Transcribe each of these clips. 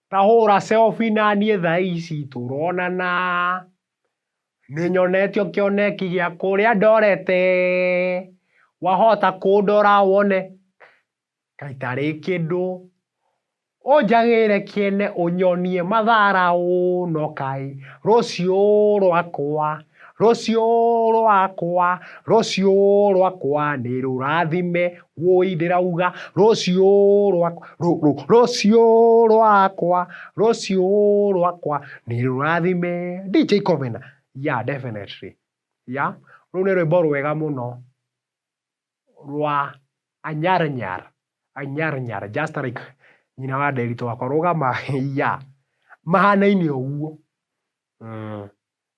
Ta hũra selfie na niĩ thaa ici tũronana. Nĩnyonetio kĩoneki gĩa kũrĩa ndorete. Wahota kũndora wone kaĩ tarĩ kĩndũ. Ũnjagĩre kĩene ũnyonie matharaũ no kaĩ rũciũ rwakwa. Rũciũ rwakwa, rũciũ rwakwa nĩ rũrathime, wũi ndĩrauga, rũciũ rwakwa, rũ, rũ, rũciũ rwakwa, rũciũ rwakwa nĩ rũrathime. DJ Kovena, yeah definitely, yeah, rũu nĩ rwĩmbo rwega mũno rwa Anyar Nyar, Anyar Nyar, just like nyina wa Nderitũ wakwa, rũgama, yeah, mahanaine ũguo.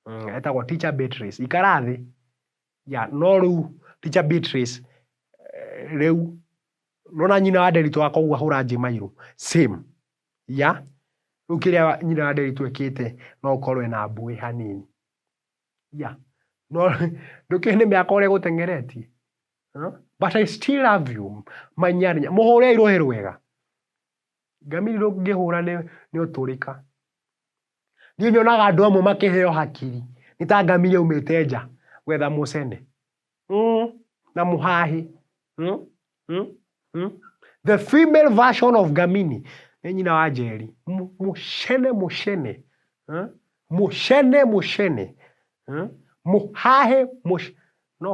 Mm, etagwo teacher Beatrice. Ikara thĩ. Ya, no rĩu teacher Beatrice eh, rĩu nona nyina wa Nderitũ akoguo ahũra Njĩmairũ. Same. Ya, rĩu kĩrĩa nyina wa Nderitũ ekĩte no ũkorwo ena mbuĩ hanini. Ya, no ndũkĩũĩ nĩ mĩaka ũrĩa ĩgũteng'eretie. Huh? But I still love you. Manyarinya. Mũhũre irũhĩ rwega. Ngamiri rũngĩhũra nĩ nĩ ũtũrĩka. Niĩ nyonaga andũ amwe makĩheo hakiri nĩ ta ngamĩra ĩumĩte nja gwetha mũcene mm, na mũhahi mm, mm, mm. The female version of ngamini nĩ nyina wa njeri M- mũcene mũcene mm, mũcene mũcene mm, mũhahe mũc... no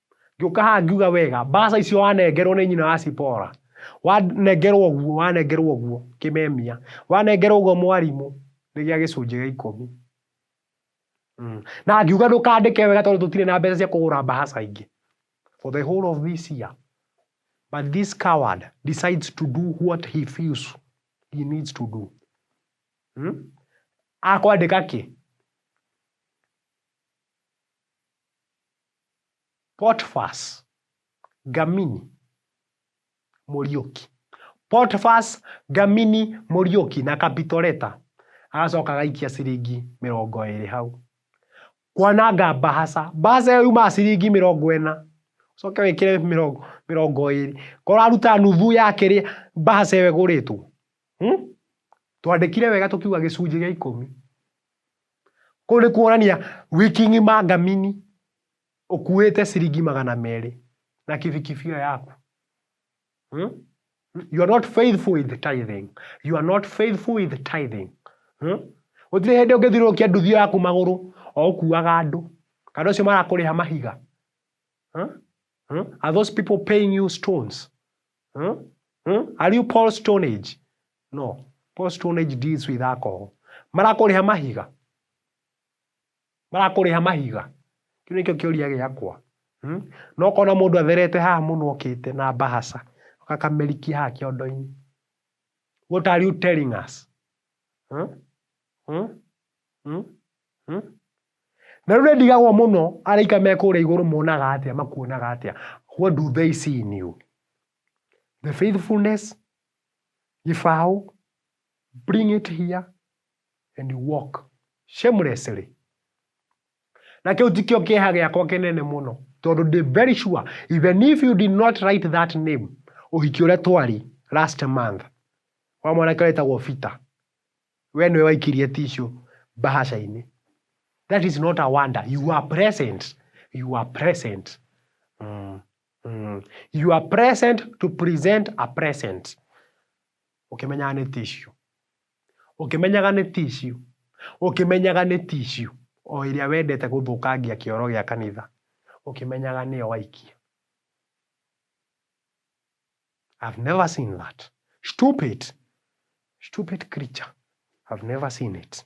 ngĩũka haha ngiuga wega mbaca icio wanengerwo nĩ nyina wa cipora wanengerwo ũguo wanengerwo ũguo kĩmemia wanengerwo ũguo mwarimũ nĩ gĩa gĩcunjĩ gĩa ikũmi mm. na ngiuga ndũkandĩke wega tondũ tũtirĩ na mbeca cia kũgũra mbaca ingĩ for the whole of this year but this coward decides to do what he feels he needs to do mm? akwandĩka kĩ Potfas, Gamini, Mũriũki. Potfas, Gamini, Mũriũki na Kapitoreta agacoka agaikia ciringi mĩrongo ĩrĩ hau. Kwananga mbahaca. Mbahaca ĩyo yumaga ciringi mĩrongo ĩna. Ũcoke wĩkĩre mĩrongo mĩrongo ĩrĩ. Korwo ũraruta nuthu ya kĩrĩa mbahaca ĩyo ĩgũrĩtwo. Hmm? Twandĩkire wega tũkiuga gĩcunjĩ gĩa ikũmi. Kũu nĩ kuonania wiki ng'ima ngamini ũkuĩte ciringi magana merĩ na kibikibi ĩyo yaku. Hmm? You are not faithful with tithing. You are not faithful with tithing. Hmm? Gũtirĩ hĩndĩ ũngĩthiũrũrũkia nduthi ĩyo yaku magũrũ o ũkuaga andũ kana ũcio marakũrĩha mahiga. Hmm? Hmm? Are those people paying you stones? Hmm? Hmm? Are you Paul Stone Age? No. Post on age deals with alcohol. Marakũrĩha mahiga. Marakũrĩha mahiga. Kĩu nĩkĩo kĩũria gĩakwa. Hmm? No kona mũndũ atherete haha mũno okĩte na bahasa akakamerikia haha kĩondo-inĩ. What are you telling us? Hmm? Hmm? Hmm? Hmm? na rä u nä ndigagwo må no araika me kå rä a igå rå monaga atä a makuonaga atä a what do they see in you the faithfulness He fowl bring it here and walk shamelessly. Na kĩu tikĩo kĩeha gĩakwa kĩnene mũno tondũ ndĩ very sure even if you did not write that name ũhiki ũrĩa twari last month wa mwanake wetagwo Peter we nĩwe waikirie tissue mbahaca-inĩ that is not a wonder you are present you are present mm. Mm. You are present to present a present. Ũkĩmenyaga nĩ tissue. Ũkĩmenyaga nĩ tissue. Ũkĩmenyaga nĩ tissue. O ĩrĩa wendete gũthũkangia kĩoro gĩa kanitha. Ũkĩmenyaga nĩyo waikia. I've never seen that. Stupid. Stupid creature. I've never seen it.